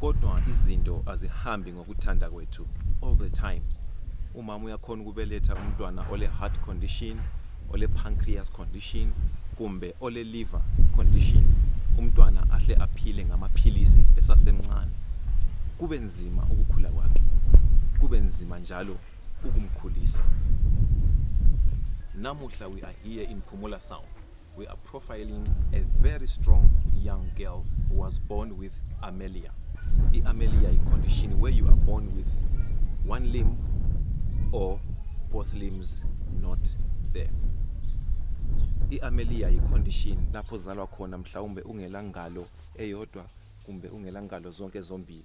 kodwa izinto azihambi ngokuthanda kwethu all the time umama uyakhona ukubeletha umntwana ole heart condition ole pancreas condition kumbe ole liver condition umntwana ahle aphile ngamaphilisi esasemncane kube nzima ukukhula kwakhe kube nzima njalo ukumkhulisa namuhla we are here in phumula south We are profiling a very strong young girl who was born with amelia. The amelia is condition where you are born with one limb or both limbs not there. i-amelia yi-condition lapho uzalwa khona mhlawumbe ungelangalo eyodwa kumbe ungelangalo zonke zombili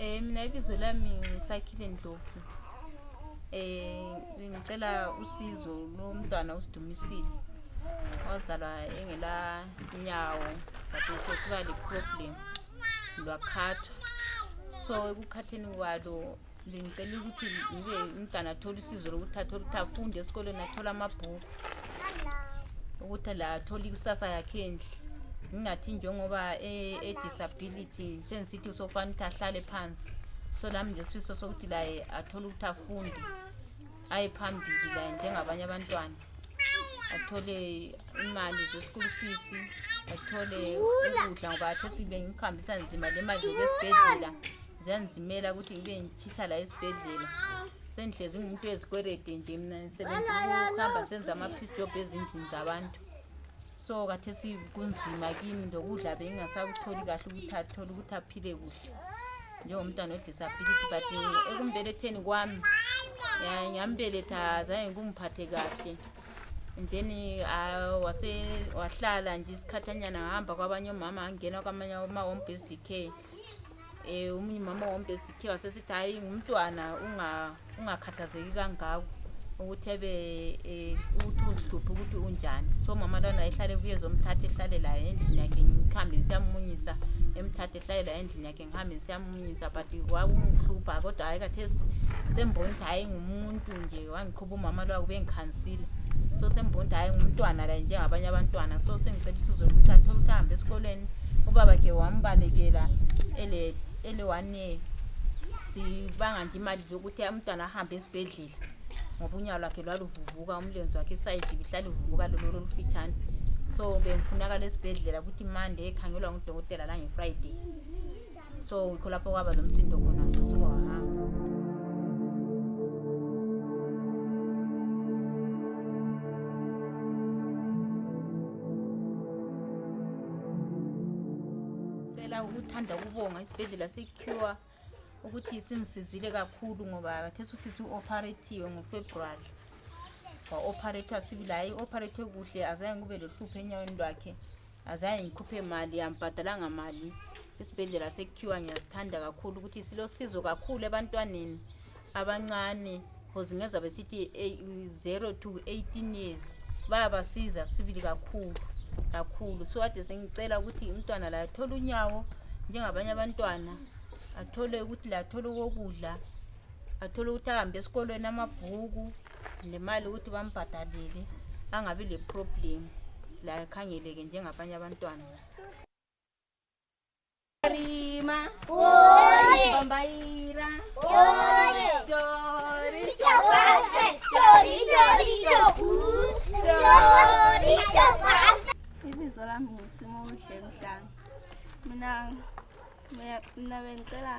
Eh mina ibizo lami ngisakhile Ndlovu. Eh ngicela usizo lo mntwana usidumisile. Wazalwa engela nyawo but usesuka le problem lwakhathwa. So ekukhatheni kwalo bengicela ukuthi ngibe umntana athole usizo lokuthi athole ukuthi afunde esikolweni athole amabhuku ukuthi la athole ikusasa yakhe endle ngingathi njengoba e-, e-disability sengisithi sokufanele ukuthi ahlale phansi so lami nje sifiso sokuthi laye athole ukuthi afunde aye phambili laye njengabanye abantwana athole imali ze-school fees athole ukudla ngoba athethe bengikuhambisa nzima le mali yokuesibhedlela ziyandizimela ukuthi ngibe ngitshitha la esibhedlela sendihlezi ngumuntu wezikwerede nje mna sebenzihamba senza ama-peace job ezindlini zabantu so kathesi kunzima kimi ndokudla bengingasakutholi kahle ukuthi athole ukuthi aphile kuhle njengomntwana odisability but ekumbeletheni kwami ngambeletha zange kungiphathe kahle and then uh, wase wahlala nje isikhathanyana ngahamba kwabanye omama angena kwamanye omama ombsd care Eh umunye umama wombe sithe wasesithi hayi ngumntwana unga ungakhathazeki kangako ukuthi ebe eh, ukuthi uzihluphe ukuthi unjani so mama lana ehlale ebuye zomthatha ehlale laye endlini yakhe ngihambe ngisiyamunyisa emthatha ehlale laye endlini yakhe ngihambe ngisiyamunyisa but wakungihlupha kodwa hayi kathesi sembona ukuthi hayi ngumuntu nje wangikho ubumama lwabo bengikhansile so sembona ukuthi hhayi ngumntwana la njengabanye abantwana so sengicela usizo lokuthi athole ukuthi ahambe esikolweni ubaba khe wambalekela ele-one year sibanga nje imali zokuthi umntwana ahambe esibhedlela ngoba unyawo lwakhe lwaluvuvuka umlenzi wakhe isayidi bihlale uvuvuka lolo lolufitshane so bengifunakala esibhedlela ukuthi mande ekhangelwa ngudokotela langefriday so yikho lapho kwaba nomsindo khona sisuka wahamba cela ukuthanda ukubonga isibhedlela secure ukuthi singisizile kakhulu ngoba kathesi usisi u-operatiwe ngofebruwari wa-operator sibili hhayi i-operate kuhle azange kube lohlupho enyaweni lwakhe azange ngikhuphe mali ambhadalanga mali isibhedlela sekhiwa ngiyasithanda kakhulu ukuthi silosizo kakhulu ebantwaneni abancane cause ngeza besithi eh, zero to eighteen years bayabasiza sibili kakhulu kakhulu so kade sengicela ukuthi umntwana laye athole unyawo njengabanye abantwana athole ukuthi laye athole okokudla athole ukuthi ahambe esikolweni amabhuku le mali ukuthi bambhadalele angabi leproblem layo khangeleke njengabanye abantwana Rima, Oye, Bambaira, oye, Chori, chapase, chori, chori, chopu, chori, chapase. ibizo lami ngusimuhle mhlanga mina mna bendicela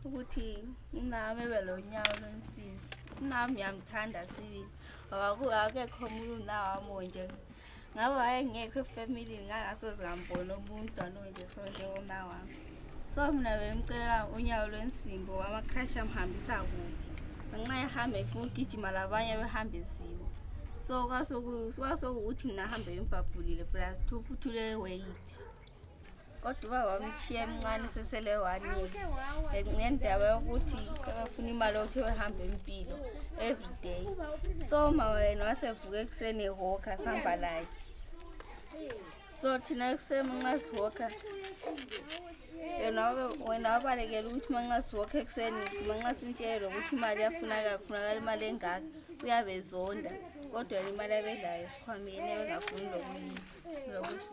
ukuthi unami ebe lo nyawo lwensibi unami uyamthanda sibili ngoba akekho omunye unawam onje ngabe wayengekho efamilini ngangasoze ngamboni omuntu anonje so njengomnawam so mna bemcelela unyawo lwensimbi wamacrash amhambisa kuphi ngenxa ehamba efuna ugijima labanye behamba ezimo so kwasokukuthi mna hambe embhabhulile plus two futhi uleweyithi kodwa uba wamtshiya emncane sesele one year ngendaba yokuthi ebefuna imali yokuthi ebehambe impilo everyday so mama yena wasevuka ekuseni ehoka sihamba laye so thina ekuseni nxa sihoka yena wena wabalekela ukuthi manxa sihoka ekuseni manxa simtshele lokuthi imali yafunaka kufunakala imali engaka uyabe zonda kodwa yena imali abedlayo esikhwameni ebengafuni lokuyi lokusi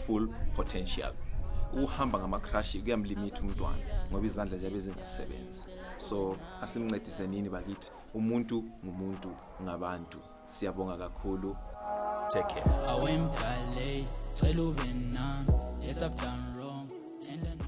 full potential ukuhamba ngamakrashi kuyamlimitha umntwana ngoba izandla ziyabe zingasebenzi so asimncedisenini bakithi umuntu ngumuntu ngabantu siyabonga kakhulu take care awemdale cela ube nami yes i've done wrong and I know